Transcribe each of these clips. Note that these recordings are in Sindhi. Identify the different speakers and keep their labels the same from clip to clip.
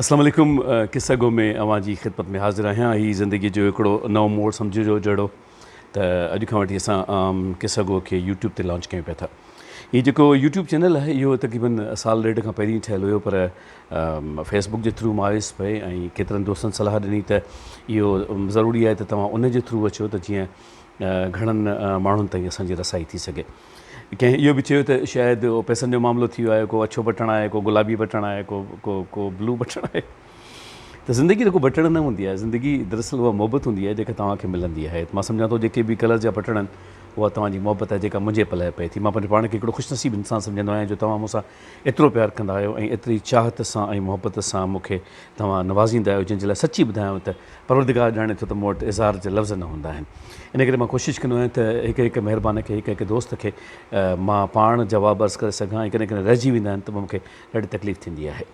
Speaker 1: السلام عليڪم قصه گو ۾ اوهان جي خدمت ۾ حاضر آهيان هي زندگي جو هڪڙو نئون موڙ سمجهجو جهڙو ته اڄ کان وٺي اسان قصه گو کي يوٽيوب تي لانچ ڪيون پيا ٿا هي جيڪو يوٽيوب چينل آهي اهو تقريبن سال ڏيڍ کان پهرين ٺهيل هيو پر فيس بڪ جي ٿرو مان آيس پئي ۽ ڪيترن دوستن صلاح ڏني ته اهو ضروري آهي ته توهان ان جي ٿرو اچو ته جيئن گهڻن ماڻهن تائين اسان جي رسائي ٿي سگهي ڪنهن اهو به چيو ته شايد اهو پئسن جو معاملو ٿي ويو آهي، ڪو اڇو بٽڻ آهي، ڪو گلابي بٽڻ آهي، ڪو ڪو ڪو بلو بٽڻ آهي. ته زندگي ته ڪو بٽڻ نه هوندي آهي، زندگي دراصل اها محبت هوندي آهي جيڪا توهان کي ملندي آهي. مان سمجهان ٿو جيڪي به ڪلر جا بٽڻ آهن اها توهان جي محبت آهي جيڪا منهنجي پلئه پئي ٿي. مان پنهنجو پاڻ کي هڪڙو خوش نصيب انسان سمجهندو آهيان جو توهان مون سان ايترو پيار ڪندا آهيو ۽ ايتري چاهت سان ۽ محبت سان مون کي توهان نوازيندا آهيو جنهن جي لاء سچي ٻڌايانو ته پروردگار ڄاڻي ٿو ته مون وٽ اظهار جا لفظ نه هوندا آهن ان ڪري مان ڪوشش ڪندو آهيان ته هڪ هڪ مهربان کي هڪ هڪ دوست کي مان پاڻ جواب عرض ڪري سگهان ۽ ڪڏهن ڪڏهن رهجي ويندا آهن ته پوء مونکي ڏاڍي تڪليف ٿيندي آهي.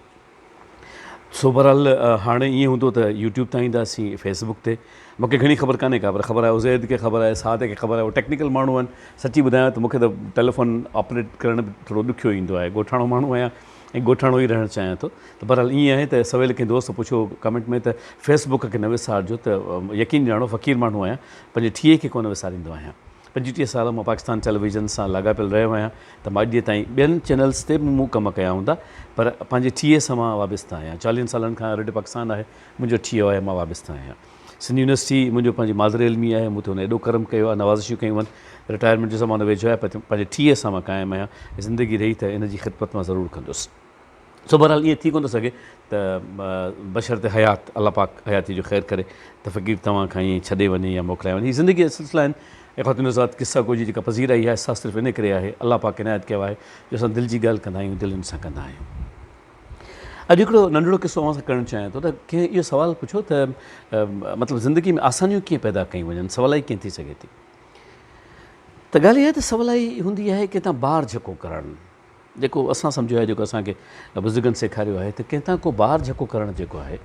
Speaker 1: سو بهرحال هاڻي ائين هوندو ته يوٽيوب تان اينداسين فيس بڪ تي مونکي گهڻي خبر ڪانهي ڪا پر خبر آهي عزيد کي خبر آهي سعد کي خبر آهي هو ٽيڪنيڪل ماڻهو آهن سچي ٻڌايان ته مونکي ته ٽيليفون آپريٽ ڪرڻ به ٿورو ڏکيو ايندو آهي ڳوٺاڻو ماڻهو آهيان ۽ ڳوٺاڻو ئي رهڻ چاهيان ٿو ته بهرحال ائين آهي ته سويل ڪنهن دوست پڇيو هو ڪمينٽ ۾ ته فيس بڪ کي نه وسارجو ته يقين ڄاڻو فقير ماڻهو آهيان پنهنجي ٺيهي کي ڪونه وساريندو آهيان پنجوٽيهه سال مان پاڪستان ٽيليويزن سان لاڳاپيل رهيو آهيان ته ماء ڏيء تائين ٻين چينلز تي به مون ڪم ڪيا هوندا پر پنهنجي ٺيهي سان مان وابسته آهيان چاليهن سالن کان ريڊيو پاڪستان آهي منهنجو ٺيهو آهي مان وابسته آهيان. سنڌ يونيورسٽي منهنجو پنهنجي مادر علمي آهي، مون تي هن ايڏو ڪرم ڪيو آهي، نوازشيون ڪيون آهن، رٽائرمينٽ جو زمانو ويجهو آهي پر پنهنجي ٺيهه سان مان قائم آهيان ۽ زندگي رهي ته ان جي خدمت مان ضرور ڪندس. سو بهرحال ائين ٿي ڪونه ٿو سگهي ته بشرط حيات الله پاڪ حياتيء جو خير ڪري ته فقير توهان کان ائين ڇڏي وڃي يا موڪلائي وڃي. هي زندگيء جا سلسلا آهن ۽ خواتين حضرات قصه گو جي جيڪا پذيرائي آهي سا صرف ان ڪري آهي، الله پاڪ عنايت ڪيو آهي جو اسان دل جي ڳالهه ڪندا آهيون، دل ان سان ڪندا آهيون. اڄ هڪڙو ننڍڙو قصو اوهان سان ڪرڻ چاهيان ٿو ته ڪنهن اهو سوال پڇيو ته مطلب زندگي ۾ آسانيون ڪيئن پيدا ڪيون وڃن سولائي ڪيئن ٿي سگهي ٿي ته ڳالهه اها آهي ته سولائي هوندي آهي ڪنهن تان بار جهڪو ڪرڻ جيڪو اسان سمجهيو آهي جيڪو اسان کي بزرگن سيکاريو آهي ته ڪنهن تان ڪو بار جهڪو ڪرڻ جيڪو آهي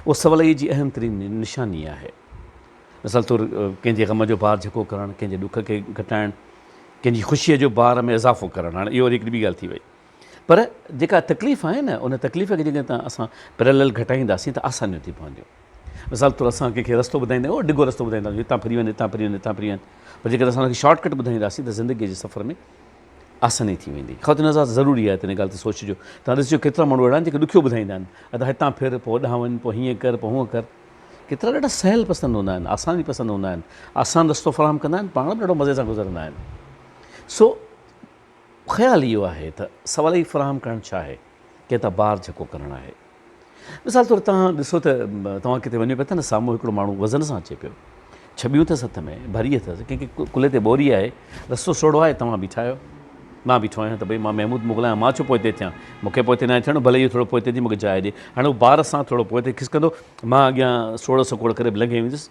Speaker 1: اهو سولائي جي اهم ترين نشاني آهي مثال طور ڪنهن جي غم جو بار جهڪو ڪرڻ ڪنهن جي ڏک کي گهٽائڻ ڪنهن جي خوشيء جو بار ۾ اضافو ڪرڻ هاڻي اهو وري هڪڙي ٻي ڳالهه ٿي وئي پر جيڪا تڪليف آهي نه ان تڪليف کي جيڪڏهن تان اسان پيرالل گهٽائينداسين ته آسانيون ٿي پونديون. مثال طور اسان ڪنهن کي رستو ٻڌائيندا آهيون ڊگهو رستو ٻڌائيندا آهيون هتان ڦري وڃ هتان ڦري وڃ هتان ڦري وڃ پر جيڪڏهن اسان ان کي شارٽ ڪٽ ٻڌائينداسين ته زندگيء جي سفر ۾ آساني ٿي ويندي. خواتين حضرات ضروري آهي ته ان ڳالهه تي سوچجو. توهان ڏسجو ڪيترا ماڻهو اهڙا آهن جيڪي ڏکيو ٻڌائيندا آهن ادا هتان ڦر پوء هوڏانهن وڃ پوء هيئن ڪر پوء هونئن ڪر. ڪيترا ڏاڍا سهل پسند هوندا آهن آساني پسند هوندا آهن آسان رستو فراهم ڪندا آهن پاڻ به ڏاڍو مزي سان گذرندا آهن سو خيال اهو آهي ته سوالي فراهم ڪرڻ ڇا آهي ڪي ته بار جهڪو ڪرڻ آهي. مثال طور تهان ڏسو ته توهان ڪٿي وڃو پيا ته نه سامهون هڪڙو ماڻهو وزن سان اچي پيو. ڇٻيون اٿس هٿ ۾ ڀري اٿس ڪنهن کي ڪلهي تي ٻوري آهي رستو سوڙهو آهي توهان بيٺا آهيو مان بيٺو آهيان ته ڀئي مان محمود مغل آهيان مان ڇو پوئتي ٿيان مون کي پوئتي ناهي ٿيڻو ڀلي اهو ٿورو پوئتي ٿي مون کي جاء ڏي هاڻي هو بار سان ٿورو پوئتي کسڪندو مان اڳيان سوڙهه سڪوڙ ڪري به لنگهي ويندس.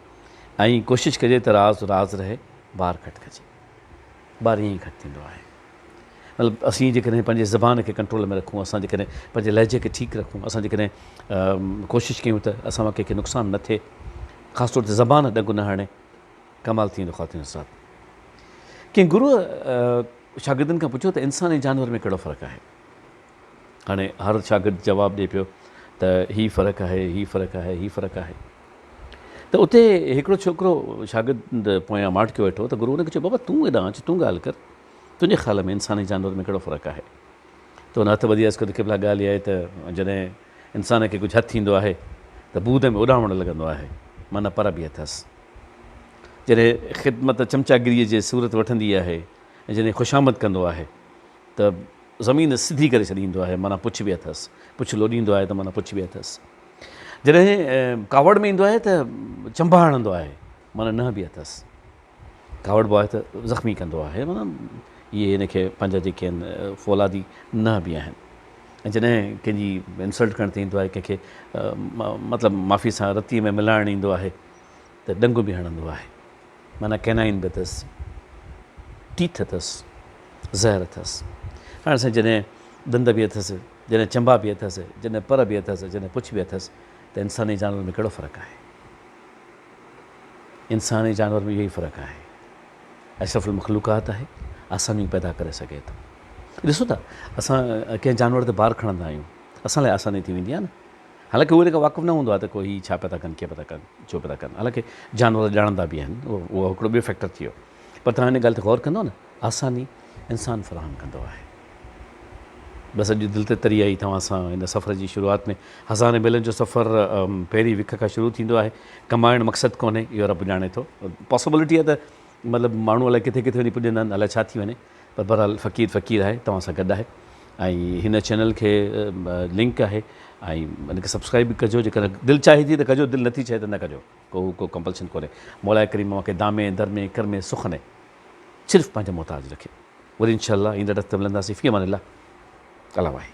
Speaker 1: ائين ڪوشش ڪجي ته راز راز رهي بار گهٽ ڪجي بار ائين ئي گهٽ ٿيندو آهي مطلب اسين جيڪڏهن پنهنجي زبان کي ڪنٽرول ۾ رکون اسان جيڪڏهن پنهنجي لهجي کي ٺيڪ رکون اسان جيڪڏهن ڪوشش ڪيون ته اسان مان ڪنهنکي نقصان نه ٿئي خاص طور تي زبان ڏنگ نه هڻي ڪمال ٿي ويندو خواتين حضرات ڪنهن گروء شاگردن کان پڇيو ته انسان ۽ جانور ۾ ڪهڙو فرق آهي هاڻي هر شاگرد جواب ڏئي پيو ته هي فرق آهي، هي فرق آهي، هي فرق آهي. ته اتي هڪڙو ڇوڪرو شاگرد پويان ماٺڪيو ويٺو هو ته گرو ان کي چيو بابا تون هيڏانهن اچ تون ڳالهه ڪر تنهنجي خيال ۾ انسان ۽ جانور ۾ ڪهڙو فرق آهي؟ ته هن هٿ وڌي عرض ڪيو ته قبلا ڳالهه اها آهي ته جڏهن انسان کي ڪجهه هٿ ٿيندو آهي ته بود ۾ اڏامڻ لڳندو آهي معنيٰ پر به اٿس جڏهن خدمت چمچاگريء جي صورت وٺندي آهي ۽ جڏهن خوشامد ڪندو آهي ته زمين سڌي ڪري ڇڏيندو آهي معنيٰ پڇ به اٿس، پڇ لوڏيندو آهي ته معنيٰ پڇ به اٿس، جڏهن ڪاوڙ ۾ ايندو آهي ته چنبا هڻندو آهي معنيٰ ننهن به اٿس، ڪاوڙبو آهي ته زخمي ڪندو آهي معنيٰ اهي هن کي پنهنجا جيڪي آهن فولادي ننهن به آهن ۽ جڏهن ڪنهن جي انسلٽ ڪرڻ تي ايندو آهي ڪنهن کي مطلب معافي سان رتيء ۾ ملائڻ ايندو آهي ته ڏنگ به هڻندو آهي. معنيٰ ڪئنائن به اٿس، ٽيٿ اٿس، زهر اٿس. هاڻي سائين جڏهن ڏند به اٿس، جڏهن چنبا به اٿس، جڏهن پر به اٿس، جڏهن پڇ به اٿس ته انساني جانور ۾ ڪهڙو فرق آهي؟ انسان ۽ جانور ۾ اهو ئي فرق آهي. اشرف المخلوقات آهي، آسانيون پيدا ڪري سگهي ٿو. ڏسو ته اسان ڪنهن جانور تي بار کڻندا آهيون، اسان لاء آساني ٿي ويندي آهي نه. حالانڪه اهو ان کان واقف نه هوندو آهي ته ڪو هي ڇا پيا ٿا ڪن ڪيئن پيا ٿا ڪن ڇو پيا ٿا ڪن حالانڪه جانور ڄاڻندا به آهن اهو هڪڙو ٻيو فيڪٽر ٿي ويو پر توهان ان ڳالهه تي غور ڪندو نه آساني انسان فراهم ڪندو آهي بس اڄ دل تي تري آئي توهان سان ان سفر جي شروعات ۾ هزارين ميلن جو سفر پهرين وک کان شروع ٿيندو آهي ڪمائڻ مقصد ڪونهي اهو رب ڄاڻي ٿو پاسبلٽي آهي ته مطلب ماڻهو الائي ڪٿي ڪٿي وڃي پڄندا آهن الائي ڇا ٿي وڃي پر بھرحال فقير فقير آھي توھان سان گڏ آھي ۽ ھن چينل کي لنڪ آھي ۽ ھن کي سبسڪرائب به ڪجو جيڪڏھن دل چاھي ٿي ته ڪجو دل نٿي چاھي ته نه ڪجو ڪو ڪو ڪمپلشن ڪونھي مولاء ڪريم اوھان کي دامي درمي ڪرمي سخني صرف پنھنجي محتاج رکي وري انشاء الله ايندڙ ھفته ملنداسين في امان الله الله واحد.